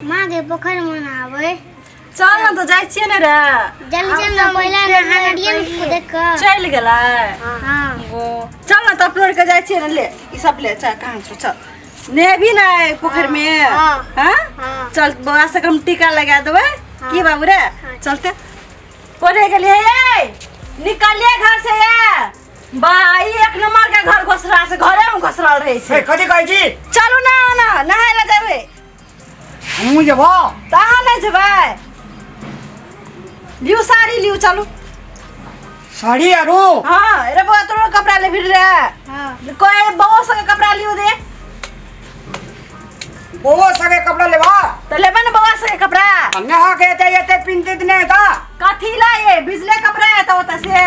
माँ के पोखर में नहावे चल ना तो जाए छिए ना रे जल्दी चल ना पहले नहानिए में कूदे का चल गेला हाँ वो चल ना तो अपलोड के जाए छिए ना ले ई सब ले चल कहां छो चल ने भी ना आए पोखर में हाँ। हां हाँ। चल बड़ा से कम टीका लगा देबे की बाबू रे चलते कोने के लिए ए निकलिए घर से ये भाई एक नंबर के घर घोसरा से घरे में घोसरा रहे ए, छै कथी कहै छी चलू ना ना नहाए ला जाबे हमहूँ जेबो तऽ अहाँ नहि जेबै लियू साड़ी लियू चलू साड़ी आरो हाँ अरे बौआ तोरो कपड़ा ले फिर रहे हाँ कोई बौआ सके कपड़ा लियो दे बौआ सगे कपड़ा लेबा तो लेबे ना बौआ सके कपड़ा अन्य हा के एते एते पिनते त नहीं था कथी ला ये बिजले कपड़ा है तो होता से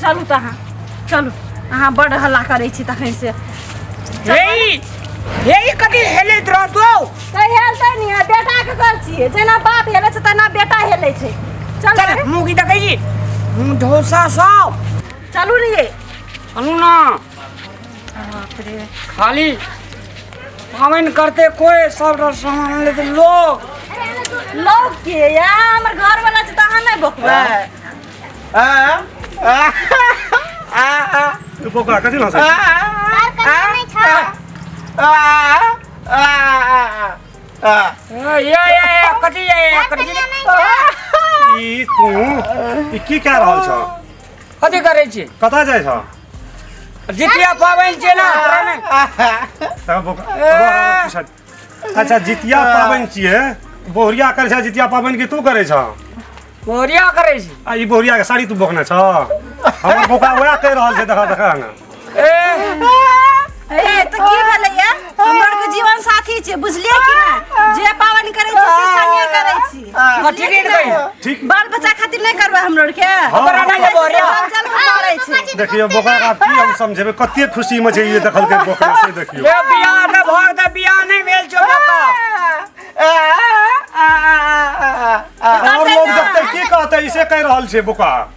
चलू तऽ अहाँ चलू अहाँ बड हल्ला करै छी तखन से हे हे कथी हेलैत रहतो तऽ हेलतै नि आ बेटा के कर छियै जेना बाप हेलै छै तेना बेटा हेलै छै चल चल रे, मुँह की देखै छी मुँह ढोसा सब चलू ने ये चलू ना बाप रे खाली पाबनि करते कोई सब रस सामान लेते लोग लोग के या हमर घर वाला छै तऽ अहाँ नहि बकबै त्यो बोका कति लान्छ के क्या रहल छ कति करै छी कता जाइ छ जितिया पाबनि छै ने अच्छा जितिया पाबनि छियै बोहरिया करै छह जितिया पाबनि की तू करै छह बोरिया करै छी आ ई बोहरिया के साड़ी तू बोकने छह हमर बोका वएह कहि रहल छै देखा देखा ना ए ए त की भेलै ये हमर के जीवन साथी छै बुझलियै कि नै जे पावन करै छी से संगे करै छी हाँ, ठीक है कही ठीक बाल बच्चा खातिर नहीं करवा हम लोग के हमरा ना के बोरे चल चल के मारे छी देखियो बोकरा का की हम समझेबे कते खुशी में छै ये देखल के बोकरा से देखियो ये बियाह में भोग दे बियाह नहीं भेल छो बका और लोग देखते की कहते इसे कह रहल छै बोका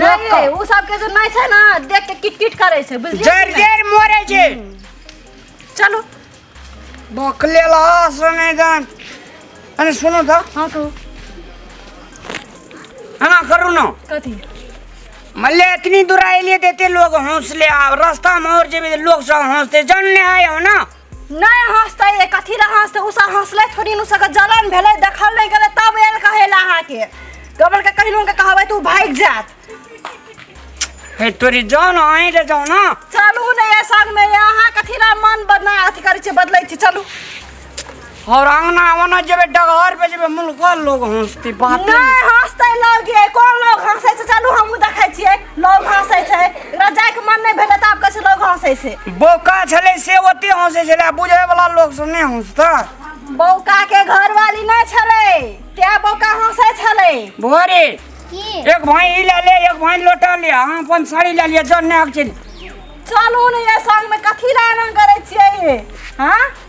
नहि रे ओ सबके जे नहि छै ने देख के किट किट करै छै बुझलियै जर कि नहि? जर मोरे जे चलू बकले लास ने जान अरे सुनो तो हाँ कहू हना करू ना कथी मल्ले इतनी दूर आइलिए देते लोग हौसले आ रास्ता में और जेबे लोग सब हौसते जानने आए हो ना नहीं हंसते ये कथी ला हंसते उ सब हंसले थोड़ी नु सके जलन भेले देखल नहीं गेले तब एल कहेला अहाँ के गबल के कहिनो के कहबै तू भाग जात हे तोरी जान आए रे जाओ ना चलू नहीं ये संग में ये अहाँ कथी ला मन बदना अथी करै छै बदलै छी चलू और अंगना वना जेबे डगहर पे जेबे मुल्का लोग हंसती बात नै हंसतै लोग के कोन लोग हंसै छै चलू हमहु देखै छियै लोग हंसै छै एकरा जाय के मन नै भेलै त आब कहै लोग हंसै छै बोका छले से ओते हंसै छले बुझै वाला लोग सब नै हंसता बोका के घरवाली नै छले ते बोका हंसै छले भोरे एक भाई ई ले ले एक भाई लोटा ले हां अपन साड़ी ले लिया जन्ने आक चल चलू ने ये संग में कथी लाना करे छियै हां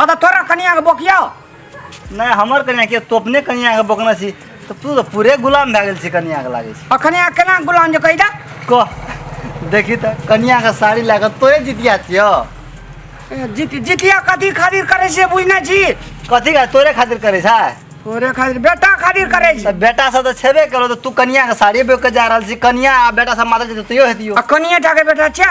हँ तऽ तोरा कनियाके बोकिया नहि हमर कनिया के तो अपने कनिया के बोकने छी तऽ तू तऽ पूरे गुलाम भए गेल छी कनिया के लागे आ कनिया केना गुलाम जे कहि दे छी कह देखी तऽ कनिया के साड़ी लए कऽ तोरे जितिया छियो जीत जितिया कथी खातिर करै छै बुझने छी कथी का तोरे खातिर करे छै तोरे खातिर बेटा खातिर करै छी तऽ बेटा सब तऽ छेबे करो तऽ तू कनिया के साड़ी बेच के जा रहल छी कनिया आ बेटा सब माता जी तैयो हेतियो आ कनिये टा के बेटा छै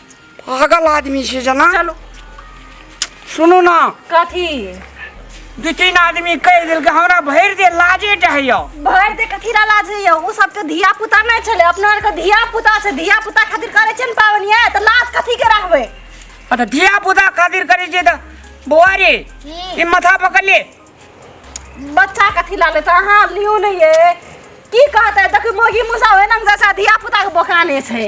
पागल आदमी छै जेना चलू सुनू ने कथी दू तीन आदमी कहि देलकै हमरा भरि दे लाजे टहैया भरि दे कथी ला लाज होइए ओ सबके धिया पुता नहि छलै अपना आरके धिया पुता छै धिया पुता खातिर करै छै ने पाबनि ये, तऽ लाज कथी के रहबै आ तऽ धिया पुता खातिर करै छै तऽ बौआ रे ई माथा पकड़ ले बच्चा कथी ला लेतै अहाँ लियौ ने ये की कहतै देखियौ मौगी मुसा ओहिना जैसा धिया पुताके बोकाने छै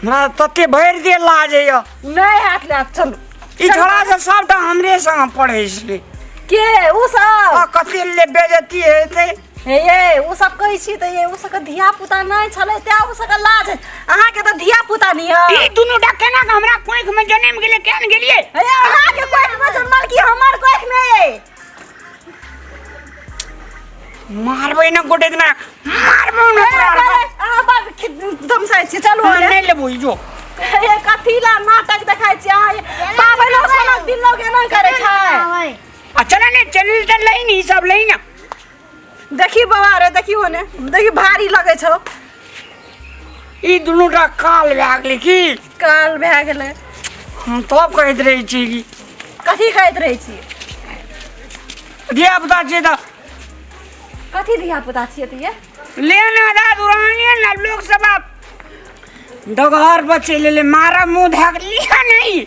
हमरा तते भरि देह लाजैया नहि हाथ लए चलू ई छोड़ा से सबटा हमरे संग पढ़ै छै के उ सब आ कते ले बेजती हेतै हे ये उ सब कहै छी तऽ ये उ सबके धिया पुता नहि छलै तें उ सबके लाज अहाँके तऽ धिया पुता नहि ई है दुनू टा केना के हमरा कोंख में जन्म गेलै केहन गेलियै हे अहाँके कोख में जन्मल की हमर कोख में ये मारबै ना गोटे ना मारबो ना अहाँ बाप धमसाइ छी चलू नहि लेबो ई जो ए कथी ला नाटक देखाइ छी अहाँ बाबै लोग समझ दिन लोग एना करै छै आ चल ने चल चल लई नी सब लई ना देखी बाबा रे देखी होने देखी भारी लगे छौ ई दुनू टा काल भए गेलै की काल भए गेलै हम तब कहैत रहै छी कि कथी कहैत रहै छी धियापुता छियै तऽ कथी धिया पुता छियै तऽ ये लेना दा दुरानिए ने लोक सब आब डगहर पर चलि एलै मारब मुँह धए कऽ लिअ नहि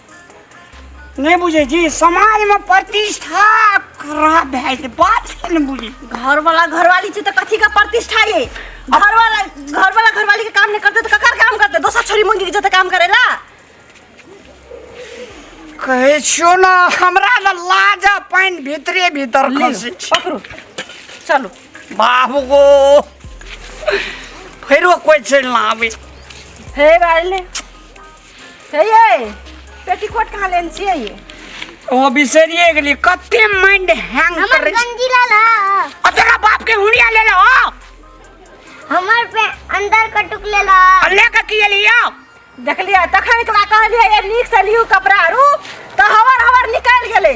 नहि बुझै छी समाजमे प्रतिष्ठा खराब भए जेतै बात छै ने बुझै छी घरवाला घरवाली छै तऽ कथी के प्रतिष्ठा ये घरवाला घरवाला घरवाली के काम नहीं करते तो ककर काम करते दोसर छोरी मंगी के जते काम करेला कहै छियो ने हमरा ने लाज आ पानि भितरे भीतर खसै छै पकड़ू चलू बाबू गो फेरो कोइ चलि ना आबै हे बाले हे ये पेटीकोट कहाँ लेने छियै ये ओ बिसरिए गेली कते माइंड हैंग हमर करे गंजी ला ला आ तेरा बाप के हुड़िया ले लो हमर पे अंदर कटुक ले ला आ लेके की एलियो देखलियै तखन एकरा कहलियै ये नीक से लियू कपड़ा आरू तऽ हवर हवर निकलि गेलै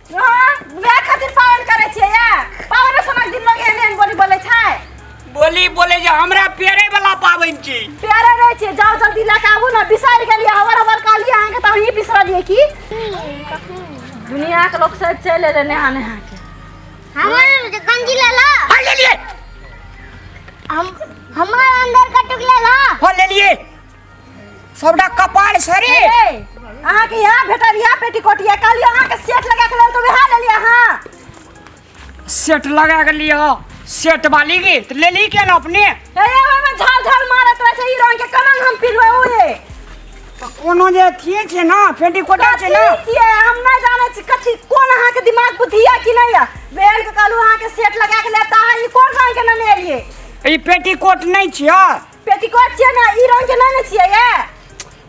बोली बोले जे हमरा पेरे वाला पाबनि छी प्यारे रहे छे जाओ जल्दी लेके आबू ना बिसर गेलिए हवर हवर काली अहाँ के त अहीं बिसरलिए की दुनिया के लोग सब चल एले नेहा नेहा के हमारे मुझे गंजी ले ला हल ले लिए हम हमारे अंदर का टुकड़ा ला हल ले लिए सबटा कपाल सरे अहाँ के यहाँ भेटल यहाँ पेटीकोट या काली अहाँ के सेट लगा के लेल तो वहाँ ले लिया हाँ सेट लगा के लियो सेट वाली की तो ले ली क्या ना अपने ए ओए में झाल झाल मारत रहे से ई रंग के कमंग हम पिलवे ओए तो कोनो जे थिए छे ना पेटीकोट छे ना कथी ये हम ना जाने छी कथी कोन अहाँ के दिमाग बुद्धि या कि नहीं या बेल के कालू अहाँ के सेट लगा के लेता है ई कोन रंग के ना ले लिए ई पेटीकोट नहीं छियो पेटीकोट छियै ने ई रंग के ना ने छियै ये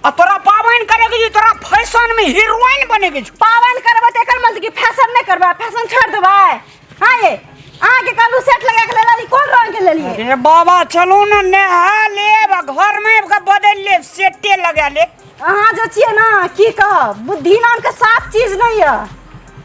आ तोरा पाबनि करे के जे तोरा फैशन में हीरोइन बने के छौ। पावन करबै त एकर मतलब कि फैशन नै करबै फैशन छोड़ देबै हां ये अहाँ के कालू सेट लगा के लेली कोन रंग के लेलिए अरे बाबा चलू ने नहा लेब आ घर में आबि के बदलि लेब सेटे लगा लेब अहाँ जे छियै ने की कहब बुद्धि नाम के साफ चीज नै य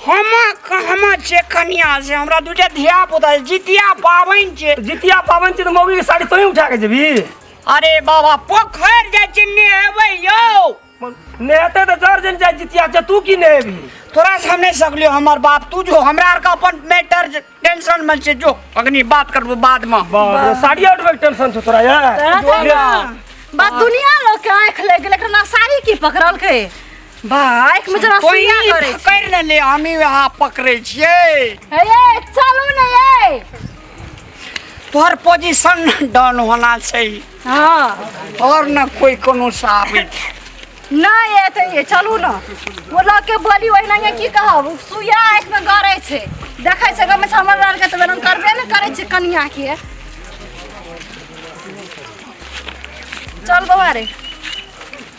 हम हमर छै कनिया से हमरा दूटा धिया पुता छै जितिया पाबनि छै जितिया पाबनि छै तऽ मौगी के साड़ी तोही उठा के जेबी अरे बाबा पोखरि जाइ छै नेहेबै यौ नेहते तऽ जर जन जाइ जितिया छै तू की नेहेबी तोरा से हम नहि सकलियो हमर बाप तू जो हमरा आर के अपन मैटर टेंशन में छे जो अग्नि बात करबो बाद में साड़ी आउट में टेंशन छो तोरा यार तोरा तो ना। बा दुनिया लोग के आँख लग गेल एकरा साड़ी की पकड़ल के बा आँख में जरा कोई सुइया करे छै। कर न ले हमी वहां पकड़े छिए हे ये चलू ने ये तोहर पोजीशन डाउन होना छै हँ आओर ने कोइ कोनो साबी नहि एतै ये चलू ने ओ लऽ के बोली ओहिना ये की कहब ओ सुइया आँखिमे गड़ै छै देखै छै गाममे से हमर लड़के तऽ बेरम करबे ने करै छै कनियाके चल बौआ रे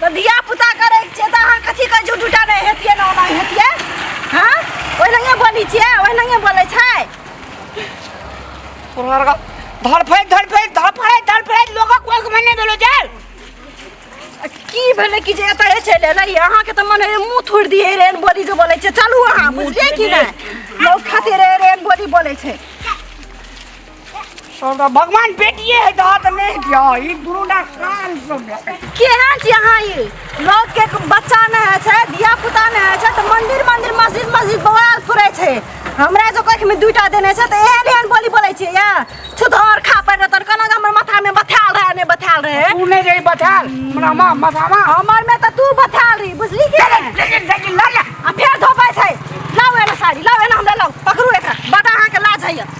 तऽ धिया पुता करै छियै तऽ अहाँ कथी कथीके झूठ उठा नहि हेतियै ने ओना हेतियै हँ ओहि लगे बोलै छियै ओहि लगे बोलै छै धड़फैत धड़फैत धड़फैत धड़फैत लोक कोक मे नहि देलो जाय की भेलै कि जे एतऽ चलि एलै अहाँके तऽ मन मुँह थोड़ि दिए रे बोली जे बोलै छै चलू अहाँ बुझलियै कि नहि लोक खातिर रे बोली बोलै छै भगवान बेटिए है तो हाथ नहीं दिया ई दुनू ना कान सब केहन छी अहाँ ई लोग के बच्चा न है छै धिया पुता न है छै तो मंदिर मंदिर मस्जिद मस्जिद बौआ फुरै छै हमरा जो कख में दुटा देने छै तो एहन एहन बोली बोलै छै या छुधर खा पर तन कना हमर माथा में बथाल रहे ने बथाल रहे तू नहीं रही बथाल हमरा मां मथामा हमर में तो तू बथाल रही बुझली के लेकिन लेकिन लड़ आ फेर धोपै छै लाओ एना साड़ी लाओ एना हमरा लाओ पकड़ू एकरा बड़ा अहाँ के लाज है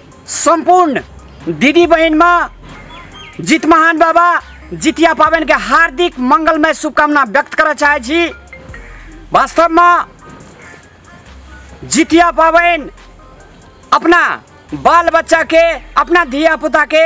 सम्पूर्ण दिदी बहिनमा जित महान बाबा जितिया पाबनिके हार्दिक मङ्गलमय शुभकामना व्यक्त करऽ चाहै छी वास्तवमे जितिया पाबनि अपना बाल बच्चाके अपना धियापुताके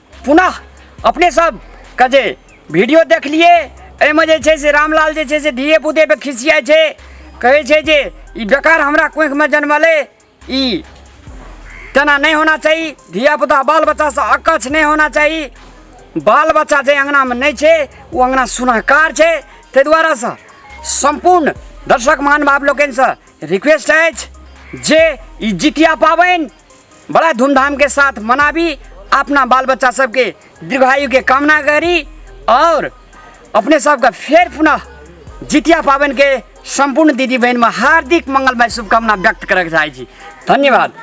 पुनः अपने सब के जे वीडियो देखलिए एहिमे जे छै से रामलाल जे छै से धिये पुते पे खिसियाइ छै कहै छै जे ई बेकार हमरा कोँखिमे जन्मलै ई तेना नहि होना चाही धियापुता बाल बच्चासँ अकच्छ नहि होना चाही बाल बच्चा जे अङ्गनामे नहि छै ओ अङ्गना सुनहकार छै ताहि दुआरेसँ सम्पूर्ण दर्शक महानुभाव लोकनिसँ रिक्वेस्ट अछि जे ई जितिया पाबनि बड़ा धूमधाम के साथ मनाबी अपना बाल बच्चा सबके दीर्घायु के कामना करी और अपने सबका फेर पुनः जितिया पावन के सम्पूर्ण दिदी बहन में हार्दिक मंगलमय शुभकामना व्यक्त करके चाहै छी धन्यवाद